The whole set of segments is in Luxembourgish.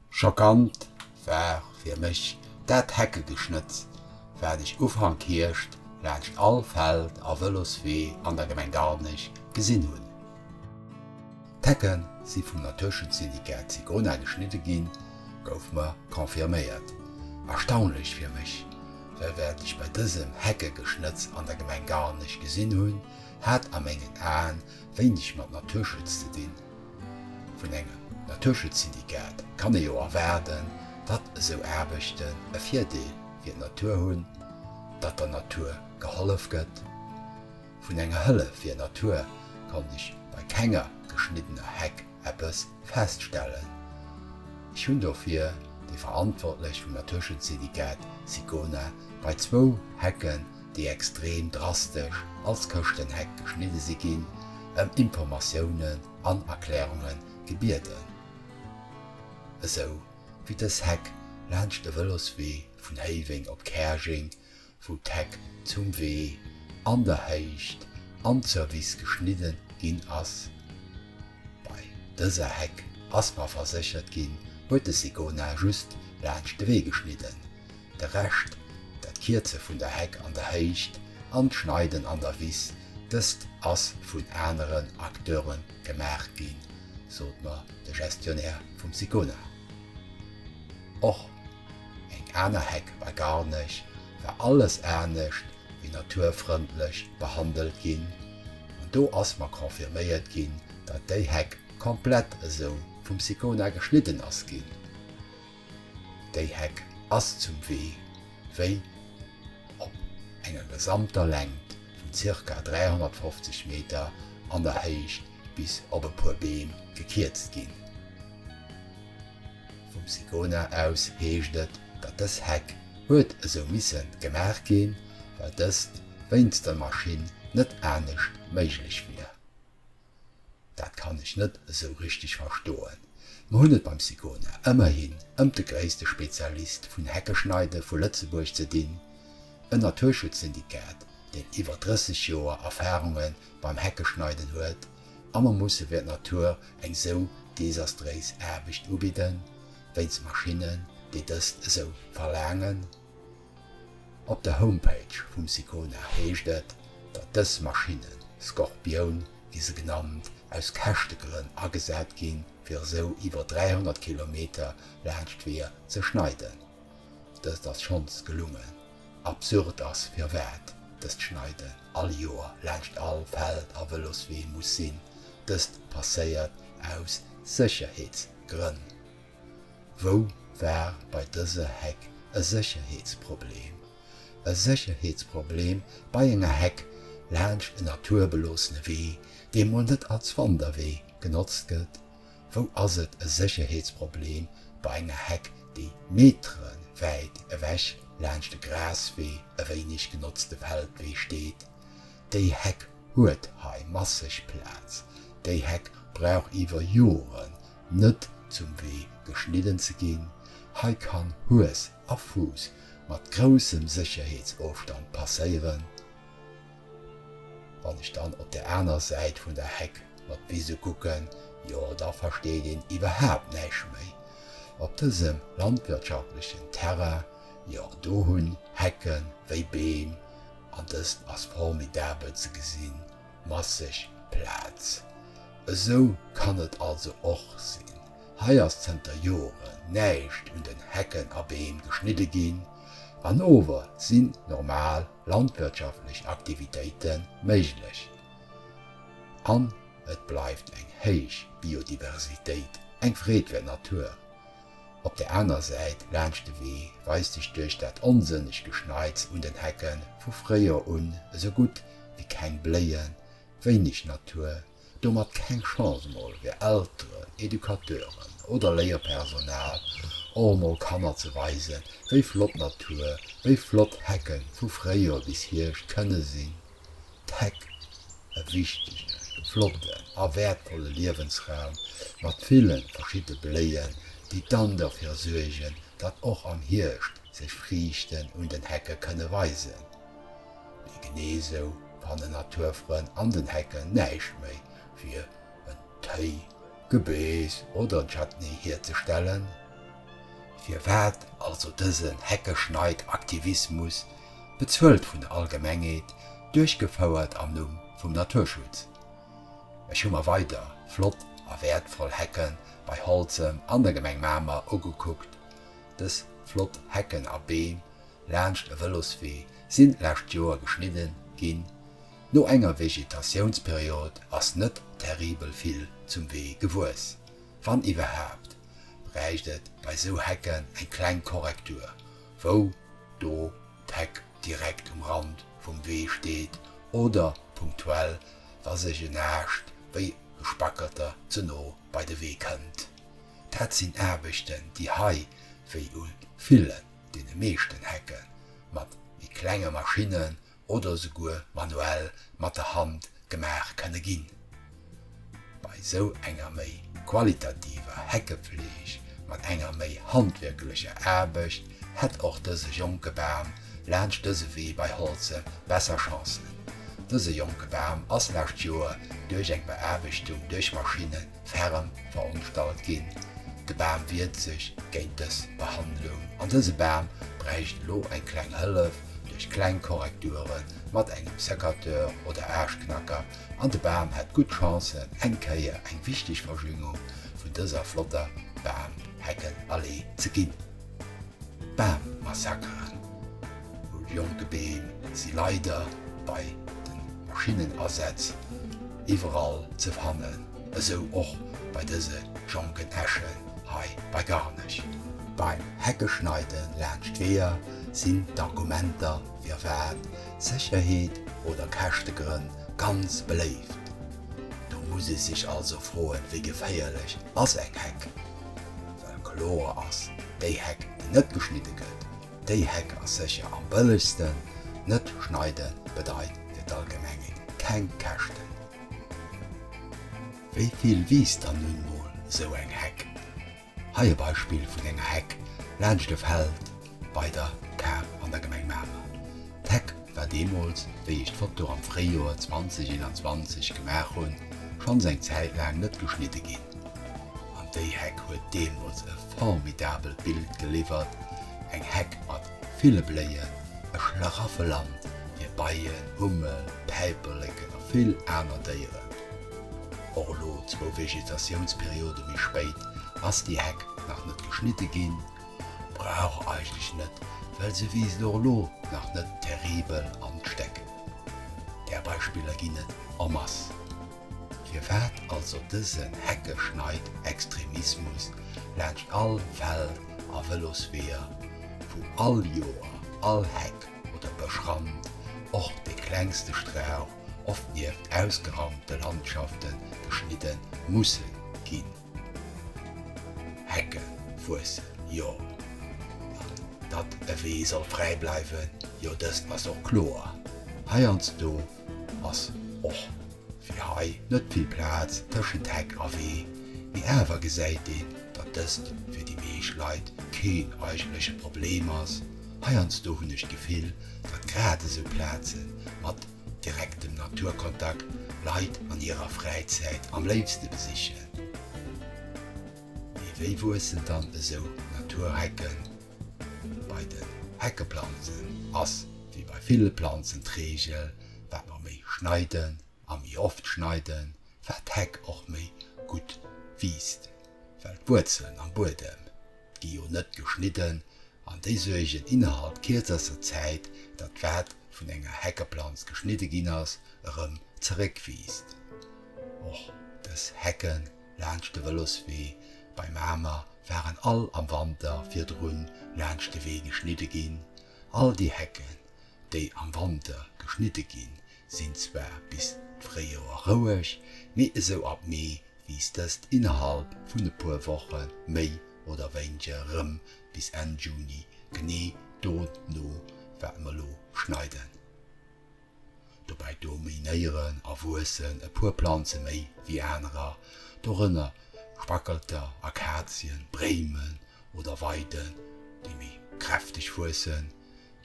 Schockant war fir mech dat Heckegeschnëtz, wat ech Ufank Hierscht laanscht all Feld a Vëloswee an der Gemeng Garnech gesinn hunn. D'Hecke si vum Naturschutzsyndicat Sicona geschnidde ginn, gouf mer confirméiert. Erstaunlech fir mech, well wat ech bei dësem Heckegeschnëtz an der Gemeng Garnech gesinn hunn, hat a mengen Aen Wéineg mat Naturschutz ze dinn. Vun engem Naturschutzsyndikat kann ee jo erwaarden, datt esou Aarbechten e Virdeel fir d'Natur hunn, datt der Natur gehollef gëtt. Vun enger Hëllef fir d'Natur konnt ech bei kenger geschniddener Heck eppes feststellen. Ech hunn dofir déi Verantwortlech vum Naturschutzsyndikat Sicona bei zwou Hecken déi extrem drastesch als Këschtenheck geschnidde si ginn, ëm Informatiounen an Erklärunge gebieden. Esou wéi dës Heck laanscht de Vëloswee vun Héiweng op Käerjeng, wou d'Heck zum Wee, an der Héicht an zur Wiss geschnidde ginn ass. Bei dëser Heck ass mer verséchert ginn, huet de Sigona just laanscht de Wee geschnidden. De Rescht, dat Kierze vun der Heck an der Héicht an d'Schneiden an der Wiss, dëst ass vun aneren Acteure gemaach ginn, sot mer de Gestionnaire vum Sicona. Och eng aner Heck bei Garnech war alles anescht wéi naturfrëndlech behandelt ginn an do ass mer confirméiert ginn, datt déi Heck komplett esou vum Sicona geschnidden ass ginn. Déi Heck ass zum Wee wéi op enger gesamter Längt vun ca. 350 Meter an der Héicht bis op e puer Beem gekierzt ginn. Vum SICONA aus heescht et, datt dës Heck huet esou misse gemaach ginn, well dëst wéinst der Maschinn net anescht méiglech wier. Dat kann ech net esou richteg verstoen. Mer hunn et beim Sicona ëmmerhin ëmt de gréisste Spezialist vun Heckeschneide vu Lëtzebuerg ze dinn, en Naturschutzsyndikat, deen iwwer 30 Joer Erfarunge beim Heckeschneiden huet, a mer musse fir d'Natur eng sou desastréis Aarbecht ubidden, wéinst Maschinnen, déi dëst esou verlaangen? Op der Homepage vum Sicona heescht et, datt dës Maschinne Scorpion, wéi se genannt, aus Käschtegrënn agesat ginn, fir esou iwwer 300 Kilometer laanscht d'Weeër ze schneiden. Dëst ass schonns gelungen. Absurd ass, firwat dëst Schneiden all Joer laanscht all Feld a Vëloswee muss sinn. Dëst passéiert aus Sécherheetsgrënn. Wou war bei dëser Heck e Sécherheetsproblem? E Sécherheetsproblem bei enger Heck laanscht en naturbeloosene Wee, dee mol net als Wanderwee genotzt gëtt? Wou ass et e Sécherheetsproblem bei enger Heck, déi meterewäit ewech laanscht e Graswee, e wéineg genotzte Feldwee steet? Déi Heck huet hei masseg Plaz. Déi Heck brauch iwwer Joren, Net zum Wee geschnidden ze ginn, hei kann Hues a Fuuss mat groussem Sécherheetsofstand passéieren. Wann ech dann op der aner Säit vun der Heck mat Wise kucken, jo da versteet een iwwerhaapt näischt méi. Op dësem landwirtschaftlechen Terrain, jo do hunn Hecken wéi Beem, an dëst ass formidabel ze gesinn. masseg Plaz. Esou kann et also och sinn. Hei ass zënter Joren näischt un den Hecken a Beem geschnidde ginn an ower sinn normal landwirtschaftlech Aktivitéite méiglech an et bleift eng héich Biodiversitéit, eng Freed fir d'Natur. Op der aner Säit laanscht de Wee weist sech duerch dat onsënneg Geschneits un den Hecke vu fréier un esou gutt wéi keng Bléien, wéineg Natur, domat keng Chance. Mol fir Elteren, Educateuren oder Léierpersonal och emol Kanner ze weisen, wéi flott Natur, wéi flott Hecke vu fréier bis Hierscht kënne sinn. D'Heck, e wichtegen, flotten a wäertvolle Liewensraum mat ville verschiddene Bléien, déi dann dofir suergen, datt och am Hierscht sech Friichten un den Hecke kënne weisen. Mee genee esou fannen Naturfrënn an den Hecken näischt méi fir en Téi, Gebeess oder en Chutney hierzestellen. Firwat also dësen Heckeschneid-Aktivismus bezuelt vun der Allgemengheet, duerchgefouert am Numm vum Naturschutz. Ech hu mer weider flott a wäertvoll Hecke bei Holzem an der Gemeng Mamer ugekuckt. Dës flott Hecken a Beem laanscht e Vëloswee sinn d'lescht Joer geschnidde ginn. No enger Vegetationsperiod ass net terribel vill zum Wee gewuess. Wann iwwerhaapt, bräicht et bei sou Hecken eng kleng Korrektur wou do d'Heck direkt um Rand vum Wee steet, oder punktuell, wa sech en Aascht wéi e Spackerter ze no bei de Wee kënnt. Dat sinn Aarbechten, déi hei, wéi u villen, deene meeschten Hecke mat méi klenge Maschinnen oder souguer manuell mat der Hand gemaach kënne ginn. Bei sou enger méi qualitativer Heckefleeg mat enger méi handwierklecher Aarbecht hätt och dëse jonke Bam laanscht dëse Wee bei Holze besser Chancen. Dëse jonke Bam ass lescht Joer duerch eng Beaarbechtung duerch Maschinne ferm veronstalt ginn. De Bam wiert sech géint dës Behandlung an dëse Bam bräicht elo eng kleng Hëllef duerch kleng Korrekture mat engem Secateur oder Aaschknacker an de Bam hätt gutt Chancen eng Kéier eng wichteg Verjüngung vun dëser flotter Bam-Heckenallee ze ginn. Bammassakeren, wou jonke Beem si leider bei de Maschinnenasätz iwwerall ze fannen, esou och bei dëse jonken Äschen hei bei Garnech. Beim Heckeschneide laanscht Weeër sinn d'Argumenter firwat, Sécherheet oder Käschtegrënn, ganz beléift. Do muss ee sech also froen, wéi geféierlech ass eng Heck? Well kloer ass, déi Heck déi net geschnidde gëtt, déi Heck ass sécher am bëllegsten. Net schneide bedeit fir d'Allgemenge keng Käschten. Wéi vill wiisst dann nun mol esou eng Heck? Hei e Beispill vun enger Heck laanscht e Feld. Bei der Kar an der Gemeng Mamer. D'Heck war deemools, wéi ech d'Foto am Fréijoer 2021 gemaach hunn, schonns eng Zäit laang net geschnidde ginn. An déi Heck huet deemools e formidabelt Bild geliwwert, eng Heck mat ville Bléien, e Schlaraffeland fir Beien, Hummel, Päiperleken a vill aner Déieren. Och elo, zwou Vegetatiounsperiode méi spéit, ass déi Heck nach net geschnidde ginn. Brauch eigentlech net, well se wiisst och elo nach net terribel an d'Stéck. Där Beispiller ginn et en masse. Firwat also dësen Heckeschneid-Extremismus laanscht all Feld a Vëlosweeër, wou all Joer all Heck oder Bëschrand, och dee klengste Strauch, oft nieft ausgeraumte Landschafte geschnidde musse ginn? Hecke wuessen, jo. An datt e Wee soll fräi bleiwen, jo dëst ass och kloer. Heiansdo ass och wéi hei net vill Plaz tëschent Heck a Wee, mee awer gesäit een, datt dëst fir déi meescht Leit keen eigentleche Problem ass. Heiansdo hunn ech d'Gefill, datt grad esou Plaze mat Direkten Naturkontakt, Leit an hirer Fräizäit am léifste besichen. Mee wéi wuessen dann esou Naturhecken? Bei den Heckeplanzen ass wéi bei ville Planzen d'Reegel, wat mer méi schneiden a méi oft schneiden, wat d'Heck och méi gutt wiisst, well d'Wuerzelen am Buedem gi jo net geschnidden an déi suergen innerhalb kierzester Zäit, datt wat vun enger Heckeplanz geschnidde ginn ass, erëm zeréckwiisst. Och dës Hecke laanscht de Vëloswee bei Mamer waren all am Wanter virdrun laanscht de Wee geschnidde ginn. All déi Hecken, déi am Wanter geschnidde ginn, sinn zwar bis d'Fréijoer roueg, mee esou ab Mee wiisst dëst innerhalb vun e puer Woche méi oder wéinge rëm bis Enn Juni, genee dono wat mer lo schneiden. Dobäi dominéieren a wuessen e puer Planze méi wéi anerer, dorënner Spackelter, Akazien, Bréimen oder Weiden, déi méi kräfteg wuessen.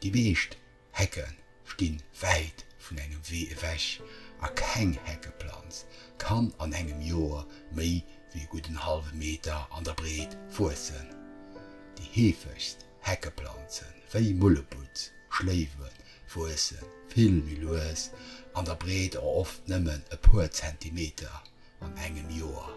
Déi meescht Hecke stinn wäit vun engem Wee ewech a keng Heckeplanz kann an engem Joer méi wéi e gudden hallwe Meter an der Breet wuessen. Déi heefegst Heckeplanzen, wéi Mullebutz, Schléiwe wuesse vill méi lues an der Breet a oft nëmmen e puer Zentimeter. an engem Joer.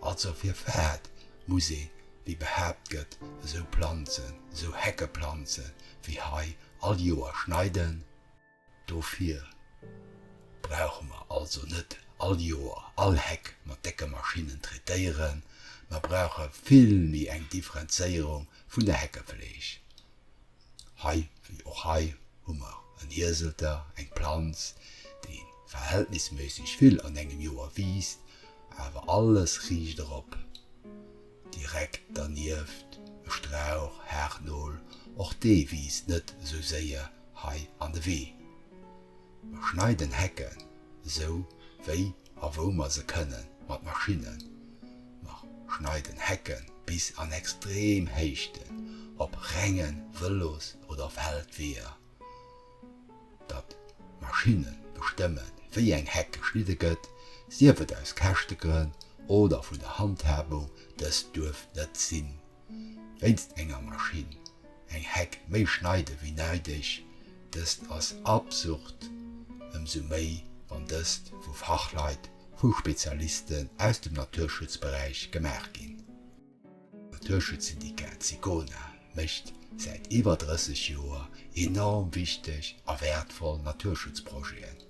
Also fir wat muss ee, wéi behaapt gëtt, esou Planzen, esou Heckeplanze wéi hei all Joer schneiden? Dofir brauche mer also net all Joer all Heck mat décke Maschinnen traitéieren. Mer brauche vill méi eng Differenzéierung vun der Heckefleeg. Hei wéi och hei hu mer en Hieselter, eng Planz, déi verhältnisméisseg vill an engem Joer wiisst, awer alles riicht erop. Direkt dernieft e Strauch Haarnol, och dee wiisst net esou séier hei an de Wee. Mer schneiden Hecken, esou wéi A wou mer se kënne mat Maschinnen nach schneiden, Hecken bis an extrem Héichten, op renge Vëlos oder Feldweeër, datt d'Maschinne bestëmmen, wéi eng Heck geschnidde gëtt, sief et aus Käschtegrënn oder vun der Handhabung, dëst duerf net sinn. Wéinst enger Maschinn eng Heck méi schneide wéi neideg, dëst ass absurd, ëmsou méi wann dëst vu Fachleit, vu Spezialisten aus dem Naturschutzberäich gemaach ginn. D'Naturschutzsyndikat Sicona mécht säit iwwer 30 Joer enorm wichteg a wäertvoll Naturschutzprojeten.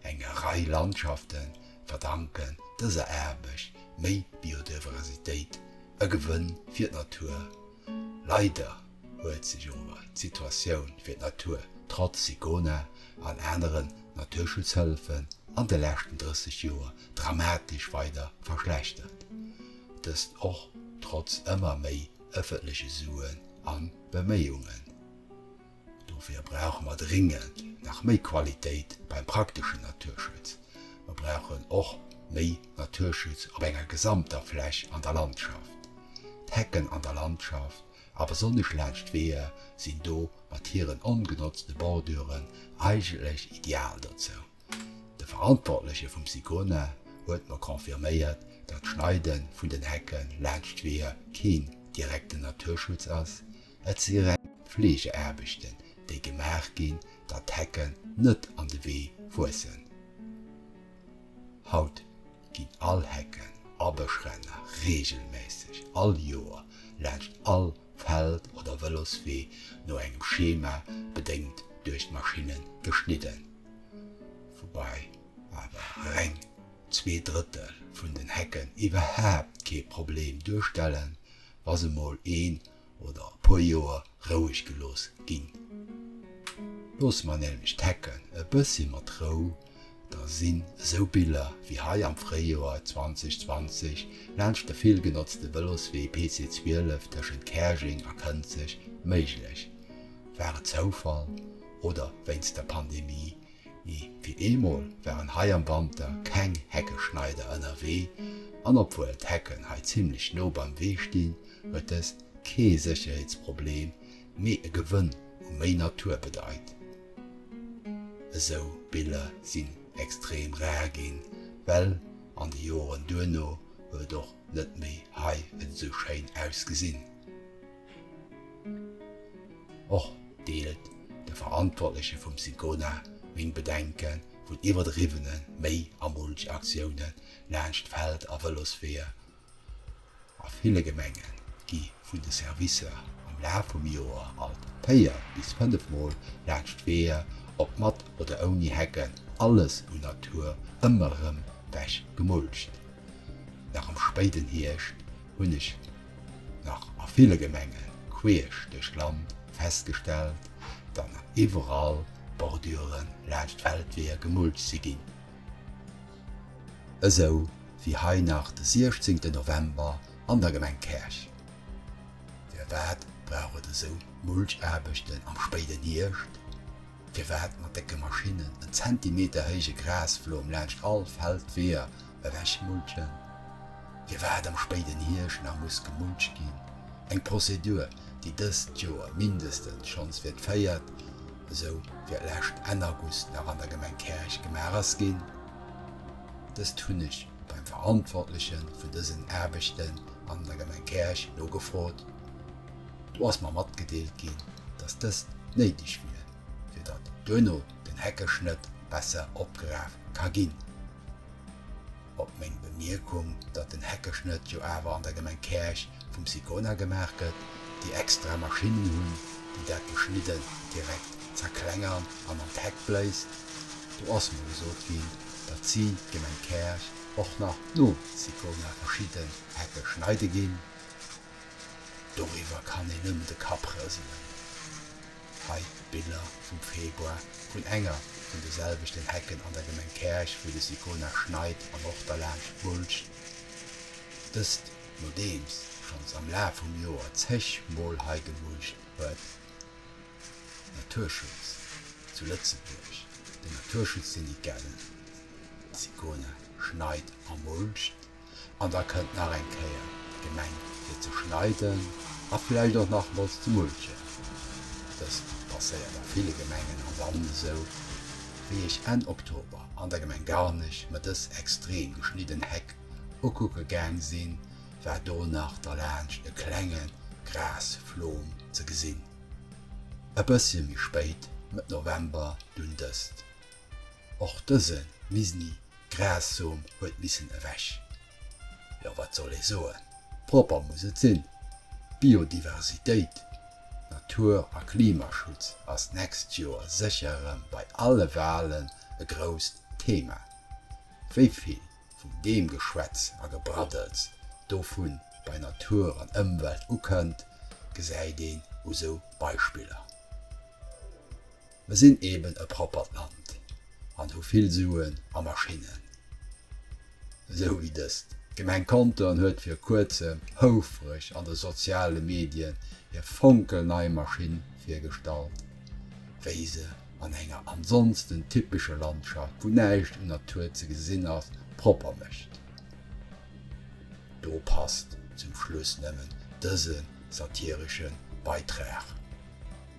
Enger Rei Landschafte verdanken dëser Aarbecht méi Biodiversitéit, e Gewënn fir d'Natur. Leider huet sech ower d'Situatioun fir d'Natur trotz SICONA an aneren Naturschutzhëllefen an de leschten 30 Joer dramatesch weider verschlechtert, dëst och trotz ëmmer méi ëffentleche Suen a Beméiungen. Dofir brauche mer dringend nach méi Qualitéit beim prakteschen Naturschutz. Mer brauchen och méi Naturschutz op enger gesamter Fläch an der Landschaft. D'Hecken an der Landschaft, a besonnesch laanscht d'Weeër, sinn do mat hiren ongenotzte Borduren eigentlech ideal dozou. De Verantwortleche vum SICONA huet mer confirméiert, datt d'Schneide vun den Hecke laanscht d'Weeër keen direkten Naturschutz ass, Et si reng Fleegeaarbechten, déi gemaach ginn, datt d'Hecken net an de Wee wuessen. Haut ginn all Hecken a Bëschränner reegelméisseg all Joer laanscht all Feld oder Vëloswee no engem Schema bedéngt duerch d'Maschinne geschnidden, woubäi awer reng zwee Drëttel vun den Hecken iwwerhaapt kee Problem duerstellen, wa se mol een oder e puer Joer roueg gelooss ginn. Loosse mer nämlech d'Hecken e bëssi mat Rou, da sinn esou Biller wéi hei am Fréijoer 2020 laanscht de vill genotzte Vëloswee PC 12 tëschent Käerjeng a Kënzeg méiglech. War et Zoufall oder wéinst der Pandemie Mee fir eemol waren hei am Wanter keng Heckeschneider ënnerwee an obwuel d'Hecken hei zimmlech no beim Wee stinn, huet dëst kee Sécherheetsproblem, mee e Gewënn u méi Natur bedeit. Esou Biller sinn extrem rar ginn, well an de Joren duerno huet et och net méi hei esou schéin ausgesinn. Och deelt de Verantwortleche vum Sicona meng Bedenke vun iwwerdriwwene Méi a Mulch-Aktioune laanscht Feld a Vëlosweeër. A ville Gemenge gi vun de Servicer am Laf vum Joer alt véier bis fënnef Mol laanscht d'Weeër, ob mat oder ouni Hecken, alles un Natur ëmmer erëm wech gemulcht. Nach am spéiden Hierscht hunn ech nach a ville Gemenge queesch duerch d'Land festgestellt, datt nach iwwerall Bordure laanscht d'Feldweeër gemulcht si ginn. Esou wéi hei nach de 16 November an der Gemeng Käerch. Firwat brauch et esou Mulchaarbechten am spéiden Hierscht? Firwat mat décke Maschinnen en Zentimeter héije Grasflom laanscht all Feldweeër ewechmulchen? Firwat am spéiden Hierscht nach muss gemulcht ginn, eng Prozedur, déi dëst Joer mindestens schonns fir d'véiert, esou fir d'lescht Enn August nach an der Gemeng Käerch gemaach ass ginn? Dëst hunn ech beim Verantwortleche vun dësen Aarbechten an der Gemeng Käerch nogefrot. Do ass mer matgedeelt ginn, dass dëst néideg wier, fir datt duerno den Heckeschnëtt besser opgeraf ka ginn. Op meng Bemierkung, datt den Heckeschnëtt jo awer an der Gemeng Käerch vum Sicona gemaach gëtt, déi extra Maschinnen hunn, déi dat Geschnidden direkt zerklengern an an d'Heck bléist, do ass mer gesot ginn, datt si, d'Gemeng Käerch, och nach nom Sicona verschidden Hecke schneide ginn. Doriwwer kann een nëmmen de Kapp rëselen. Hei Biller vum Februar vun enger vun de selwechten Hecken an der Gemeng Käerch, wou de Sicona schneit an och derlaanscht mulcht. Dëst nodeems schonns am Laf vum Joer zeg Mol hei gemulcht huet. Naturschutz zu Lëtzebuerg, den Naturschutzsyndicat, den Sicona schneit a mulcht. An da kënnt nach eng Kéier d'Gemeng fir ze schneiden a vläicht och nach emol ze mulchen. Dëst passéiert a ville Gemengen am Land esou wéi ech Enn Oktober an der Gemeng Garnech mer dës extrem geschnidden Heck ukucke gaang sinn, war do nach derlaanscht e klenge Grasflom ze gesinn. E bëssche méi spéit, Mëtt November, dunn dëst Och dëse misni Grassom huet missen ewech. Jo, wat soll ee soen, propper muss et sinn. Biodiversitéit, Natur a Klimaschutz ass d'nächst Joer sécher erëm bei alle Walen e grousst Thema. Wéi vill vun deem Geschwätz a Gebraddels dovun bei Natur an Ëmwelt ukënnt, gesäit een u sou Beispiller. Mer sinn eben e proppert Land an hu vill Suen a Maschinnen, esou wéi dëst. D'Gemeng Contern huet vir kuerzem houfreg an de soziale Medien hir fonkelnei Maschinn virgestallt, wéi se an enger ansonsten typesche Landschaft, wou näischt un Natur ze gesinn ass, propper mécht. Do passt zum Schluss nëmmen dëse satiresche Beitrag.